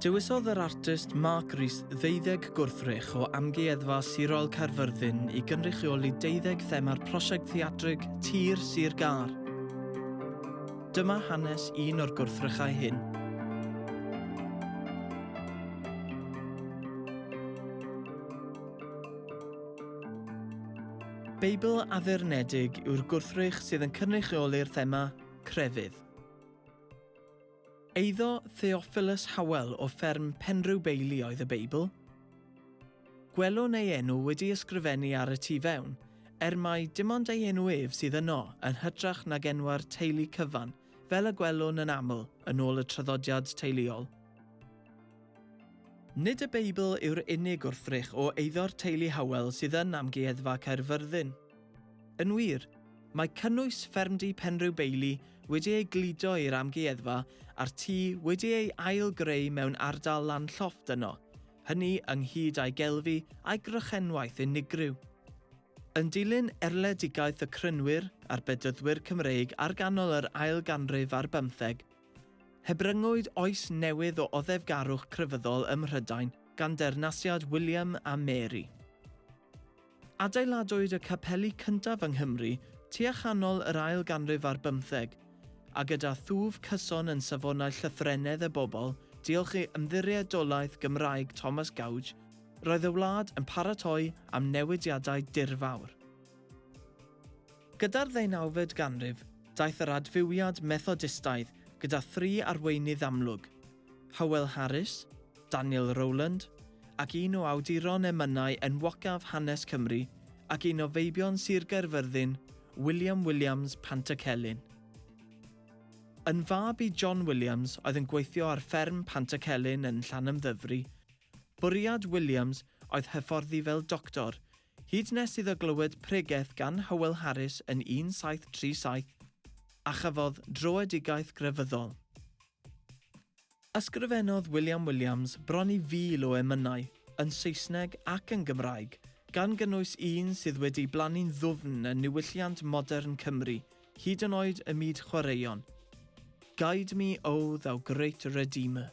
Dewisodd yr artist Mark Rees ddeuddeg gwrthrych o Amgueddfa Sirol Caerfyrddin i gynrychioli deuddeg thema'r prosiect theatrig Tir Sir Gar. Dyma hanes un o'r gwrthrychau hyn. Beibl addurnedig yw'r gwrthrych sydd yn cynrychioli'r thema crefydd. Eiddo Theophilus Howell o fferm Penrhyw Beili oedd y Beibl. Gwelwn ei enw wedi ysgrifennu ar y tu fewn, er mai dim ond ei enw ef sydd yno yn hytrach nag enwau'r teulu cyfan, fel y gwelwn yn aml yn ôl y traddodiad teuluol. Nid y Beibl yw'r unig wrthrych o eiddo'r teulu Howell sydd yn Amgueddfa Caerfyrddin. Yn wir, mae cynnwys ffermdy Penrhiw Bailey wedi ei gludo i'r amgueddfa a'r tŷ wedi ei ail-greu mewn ardal lan-llofft yno, hynny ynghyd â'i gelfi a'i grychenwaith unigryw. Yn dilyn erledigaeth y Crynwyr a'r Bedyddwyr Cymreig ar ganol yr ail ganrif ar bymtheg, Hebryngwyd oes newydd o oddefgarwch crefyddol ym Mhrydain gan deyrnasiad William a Mary. Adeiladwyd y capeli cyntaf yng Nghymru tua chanol yr ail ganrif ar bymtheg, a gyda thwf cyson yn safonau llythrennedd y bobl, diolch i Ymddiriedolaeth Gymraeg Thomas Gouge, roedd y wlad yn paratoi am newidiadau dirfawr. Gyda'r ddeunawfed ganrif, daeth yr adfywiad Methodistaidd gyda thri arweinydd amlwg, Howell Harris, Daniel Rowland, ac un o awduron emynau enwocaf hanes Cymru ac un o feibion Sir Gaerfyrddin, William Williams Pantycelyn. Yn fab i John Williams oedd yn gweithio ar fferm Pantycelyn yn Llanymddyfri, bwriad Williams oedd hyfforddi fel doctor Hyd nes iddo glywed pregeth gan Hywel Harris yn 1737, a chafodd dröedigaeth grefyddol. Ysgrifennodd William Williams bron i fil o emynau, yn Saesneg ac yn Gymraeg, gan gynnwys un sydd wedi blannu'n ddwfn yn niwylliant modern Cymru, hyd yn oed y myd chwaraeon, Guide me, O thou great Redeemer.